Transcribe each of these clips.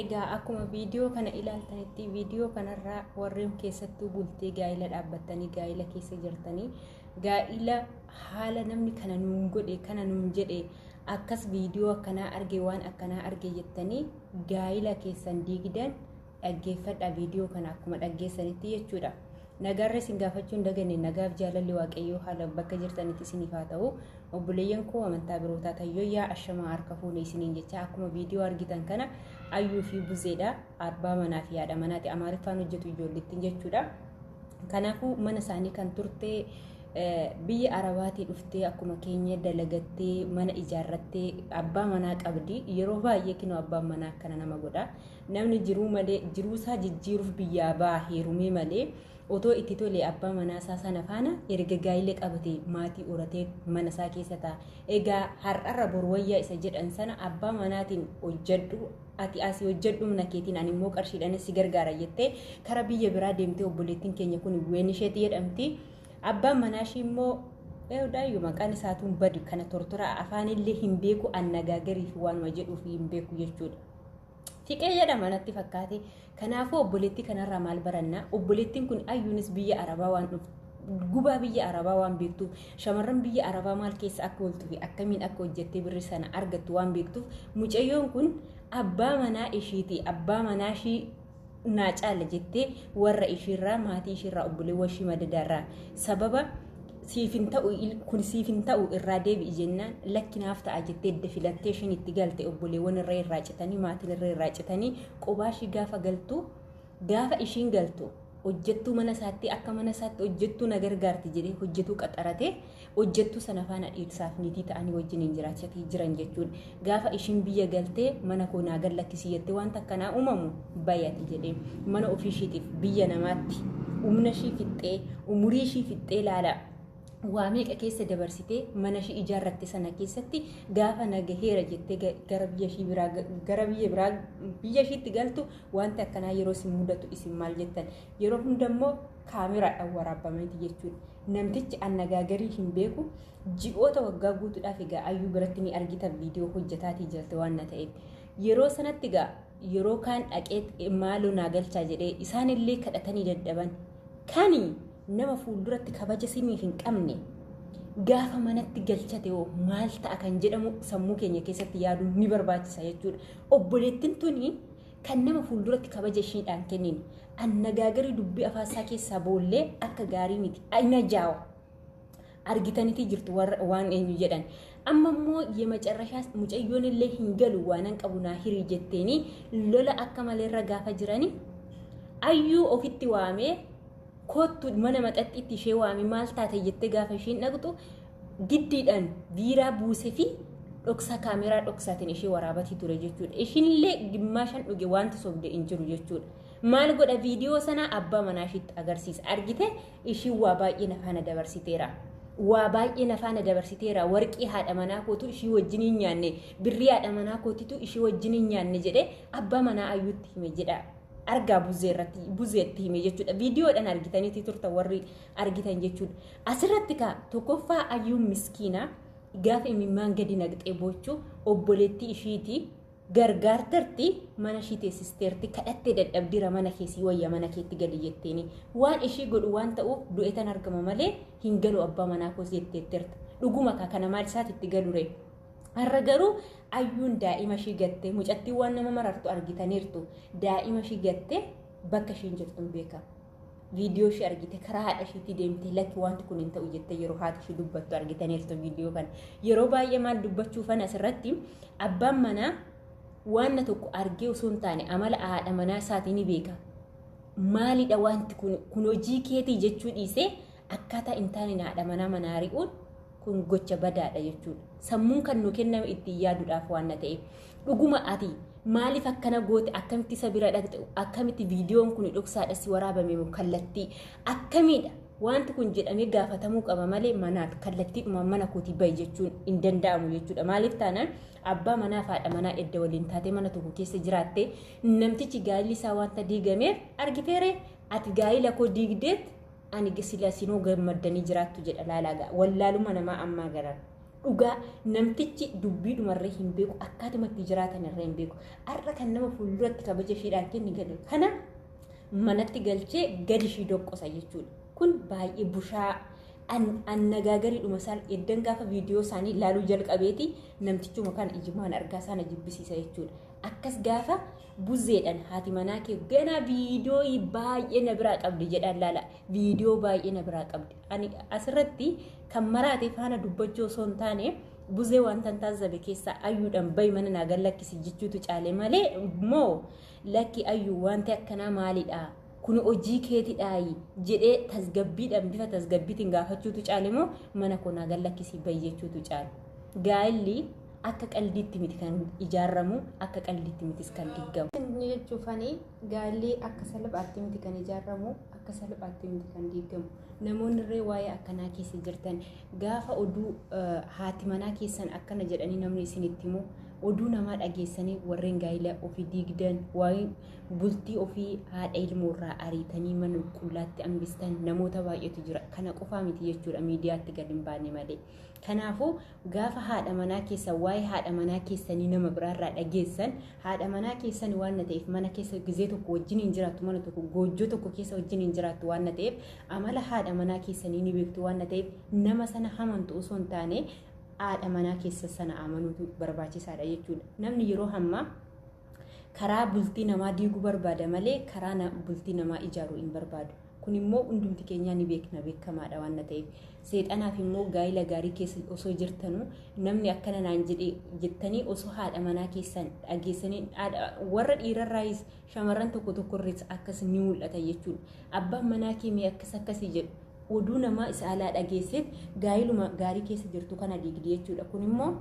egaa akkuma viidiyoo kana ilaaltanitti viidiyoo kanarraa warreen keessattuu bultee gaa'ila dhaabbattanii gaa'ila keessa jirtanii gaa'ila haala namni kana nuun godhe kana nuun jedhe akkas viidiyoo akkanaa arge waan akkanaa arge jettanii gaa'ila keessan diigdan Dhaggeeffadhaa viidiyoo kana akkuma dhaggeessanitti jechuudha. Nagaarra isin gaafachuu hin daganne nagaaf jaalalli waaqayyoo haala bakka jirtanitti isiniif haa ta'u. Obboleeyyan koo amantaa birootaa tayyooyyaa ashamaa harka fuune isiniin jecha akkuma viidiyoo argitan kana ayyuu fi buzeedha abbaa manaa fi haadha manaati amaariffaan hojjetu ijoollettiin jechuudha. Kanaafuu mana isaanii kan turte biyya arabaatii dhuftee akkuma keenya dalagattee mana ijaarrattee abbaa manaa qabdi yeroo baay'ee kinoo abbaan manaa akkana nama godha Namni jiruu malee jiruusaa jijjiiruuf biyyaa ba'a heerumee malee otoo itti tolee abbaa manaasaa sana faana erga gaa'ila qabate maatii horatee manasaa keessa ta'a. Egaa har'arra bor wayyaa isa jedhan sana abbaa manaatiin hojjedhu ati asii hojjedhu humna keetiin ani immoo qarshiidhaan si gargaara jettee kara biyya biraa deemtee obboleettiin keenya kun ween isheetti jedhamti. Abbaan manaashii immoo Eewdaayyuu maqaan isaatuun badu kana tortoraa afaanillee hin beeku annagaagariif waanuma jedhuuf hin beeku jechuudha. Xiqee jedhama natti fakkaate. Kanaafuu obboleettii kanarraa maal baranna? Obboleettiin kun ayyuunis biyya Arabaa waan dhuftu. Gubaa biyya Arabaa waan beektuuf shamarran biyya Arabaa maal keessa akka ooltuu fi akkamiin akka hojjettee birri sana argattu waan beektuuf mucayyoon kun abbaa manaa ishiiti. Abbaa manaa ishii naa caala jettee warra ishiirraa maatii ishiirraa obboleewwan ishii madadaarraa sababa siif hin ta'u kun siif hin ta'u irraa deebi'i jennaan lakki naaf ta'a jettee edda filattee ishiin itti galte obboleewwan irra irraa citanii maatiin irra irraa citanii qobaa ishii gaafa galtu gaafa ishiin galtu hojjettuu mana isaatti akka mana isaatti hojjettuu na gargaarti jedhee hojjetuu qaxaratee hojjettuu sana faana dhiirsaaf niitii ta'anii wajjiniin jiraachati jiran jechuun gaafa ishiin biyya galtee mana koo naa gad lakkisii jettee wanta akkanaa uumamu bayati jedhee mana ofii ishiitiif biyya namaatti humna ishii fixxee umurii ishii fixxee laala waa meeqa keessa dabarsitee mana ishii ijaarratte sana keessatti gaafa nagaheera jettee ga- gara biyya ishii biraa ga- gara biyya biraa biyya ishiitti galtu wanti akkanaa yeroo isin mudatu isin maal jettan yeroo hunda immoo kaameraadhaan waraabbameeti jechuudha. Namtichi annagaagarii hin beeku ji'oota waggaa guutuudhaaf egaa ayyuu biratti ni argita viidiyoo hojjetaatii jirti waan na ta'eef. Yeroo sanatti egaa yeroo kaan dhaqee maaloo naa galchaa jedhee isaanillee kadhatanii dadhaban. Kani nama fuulduratti kabaja siniif hin qabne gaafa manatti galchate hoo maal ta'a kan jedhamu sammuu keenya keessatti yaaduun ni barbaachisa jechuudha. Obboleettiin tuni Kan nama fuulduratti kabaja ishiidhaan kennine. Annagaagarri dubbii afaan isaa keessaa boollee akka gaarii miti. Aina jaawa. Argitanitii jirtu warra- waan eenyu jedhan. Amma immoo yemacarrashaas mucayyoon illee hin galu waanan qabu naa hirii jetteenii lola akka malee irra gaafa jirani. Ayyuu ofitti waamee koottu mana maxaxxiitti ishee waamee maal taate jettee gaafa ishiin dhaqxu giddiidhaan biiraa buuse fi dhoksaa kaameraa dhoksaatiin ishee waraabatii ture jechuudha. Ishiinillee gimmaashan dhuge wanti sobde hin jiru jechuudha. Maal godha viidiyoo sanaa abbaa manaa ishiitti agarsiisa. Argite ishiin waa baay'ee na faana dabarsiteera. Waa baay'ee na faana dabarsiteera. Warqii haadha manaa kootu ishii wajjin hin nyaanne. Birrii haadha manaa kootitu ishii wajjin hin nyaanne jedhee abbaa manaa ayyuutti hime jedha. argaa buzee irratti buzeetti hime jechuudha. Viidiyoodhaan argitaniiti turtan warri argitan jechuudha. Asirratti kaa tokkoffaa ayyuun miskiina gaafa imimmaan gadi naqxee boochuu obboleettii ishiiti gargaartarti mana ishii teessisteerti kadhattee dadhabdira mana keessii wayya mana keetti gali jetteeni waan ishii godhu waan ta'uuf du'eetan argama malee hin galu abbaa manaa koos jetteetteerta dhuguma kaa kana maal isaati itti galure har'a garuu ayyuun daa'ima ishii gattee mucattii waan nama marartu argitaniirtu daa'ima ishii gattee bakka ishiin jirtu hin beekamu. viidiyoo ishee argite karaa haadha isheetii deemtee lakki wanti kun hin ta'u jettee yeroo haati ishee dubbattu argitaniirtu viidiyoo kana. Yeroo baay'ee maal dubbachuu fana asirratti abbaan manaa waanna tokko argee osoo hin taane amala haadha manaa isaatii ni beeka. Maalidha wanti kun kun hojii keetii jechuu dhiisee akkaataa hin taaneen haadha manaa manaa ari'uun kun gocha badaadha jechuudha. Sammuun kan nu kenname ittiin yaaduudhaaf waan na ta'eef. Dhuguma ati maaliif akkana goote akkamitti isa bira dhaqxe akkamitti viidiyoon kun dhoksaadha si waraabame moo kallattii akkamiidha wanti kun jedhamee gaafatamuu qaba malee manaa kallattiidhuma mana kootii bahi jechuun hin danda'amu jechuudha maaliif taanaan abbaa manaa fi haadha manaa edda waliin taatee mana tokko keessa jiraatte namtichi gaa'illi isaa wanta diigameef argiteeree ati gaa'ila koo diigdeet Ani gisila sinuu gammaddanii jiraattu jedha laalaagaa wallaaluma namaa ammaa garan. Dhugaa namtichi dubbii dhumarree hin beeku akkaatuma itti jiraatan irree hin beeku. Har'a kan nama fuulduratti kabaja ishiidhaan kenni gale. Kana manatti galchee gadi ishii doqqosa jechuudha. Kun baay'ee bushaa annagaagariidhuma isaan eddan gaafa viidiyoo isaanii laaluu jalqabeeti namtichuma kana ijimaan argaa isaana jibbisiisa jechuudha. Akkas gaafa Buzzeedhan haati manaa kee ganaa viidiyoo baay'ee na biraa qabdi jedhaan laala. Viidiyoo baay'ee na biraa qabdi. Ani asirratti kan maraate faana dubbachuu osoo hin taane buzee wanta hin taasisabe keessaa ayyuudhaan bayi mana naa gad lakkisi jechuutu caale malee moo lakki ayyuu wanti akkanaa maalidha? Kun hojii keetidhaayi jedhee tasgabbiidhaan bifa tasgabbiitiin gaafachuutu caale moo mana koo naa gad lakkisi bayi jechuutu caale. Gaa'illi akka qaldiitti miti kan ijaaramu akka qaldiitti mitis kan diggamu. Inni jechuufani gaalli akka salphaatti miti kan ijaaramu akka salphaatti miti kan diigamu. Namoonni irree waa'ee akkanaa keessa jirtan gaafa oduu haati manaa keessan akkana jedhanii namni isinitti himu oduu namaa dhageessanii warreen gaa'ila ofii diigdan waa'ee bultii ofii haadha ilmoo irraa ariitanii mana qullaatti hambistan namoota baay'eetu jira. Kana qofaa miti jechuudha miidiyaatti gad hin baane malee. Kanaafuu Gaafa haadha manaa keessan waa'ee haadha manaa keessanii nama biraarraa dhageessan haadha manaa keessan waan ta'eef mana keessa gizee tokko wajjin hin jiraattu mana tokko goojjoo tokko keessa wajjin hin jiraattu waan ta'eef amala haadha manaa keessanii ni beektu waan ta'eef nama sana hamantu osoo hin taane haadha manaa keessa sana amanuutu barbaachisaadha jechuudha. Namni yeroo hammaa karaa bultii namaa diiguu barbaada malee karaa na- bultii namaa ijaaruu hin barbaadu. Kun immoo hundumti keenyaa ni beekna beekamaadha waan na ta'eef. Seexanaaf immoo gaa'ila gaarii keessa osoo jirtanuu namni akkana naan jedhe jettanii osoo haadha manaa keessan dhageessanii haadha- warra dhiirarraayis shamarran tokko tokkorris akkas ni mul'ata jechuudha. Abbaan manaa kee mee akkas akkasii jedhu oduu namaa isa alaa dhageesseet gaa'iluma gaarii keessa jirtu kana diigdi jechuudha. Kun immoo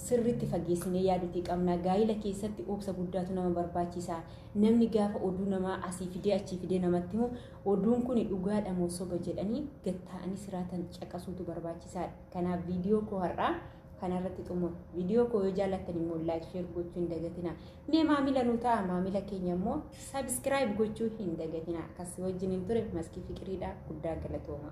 sirriitti fageessinee yaaduutii qabna. Gaa'ila keessatti obsa guddaatu nama barbaachisa. Namni gaafa oduu namaa asii fidee achii fidee namatti himu oduun kun dhugaadha moo soba jedhanii gad taa'anii siraatan caqasuutu barbaachisaadha. Kanaaf viidiyoo koo har'aa kanarratti xumura. Viidiyoo koo yoo jaallattan immoo laayik sheer gochuu hin dagatina. Mee maamila nu ta'a maamila keenya immoo sabiskiraayib gochuu hin dagatina. Akkas wajjin hin ture maskii fiqiriidha guddaa galatooma.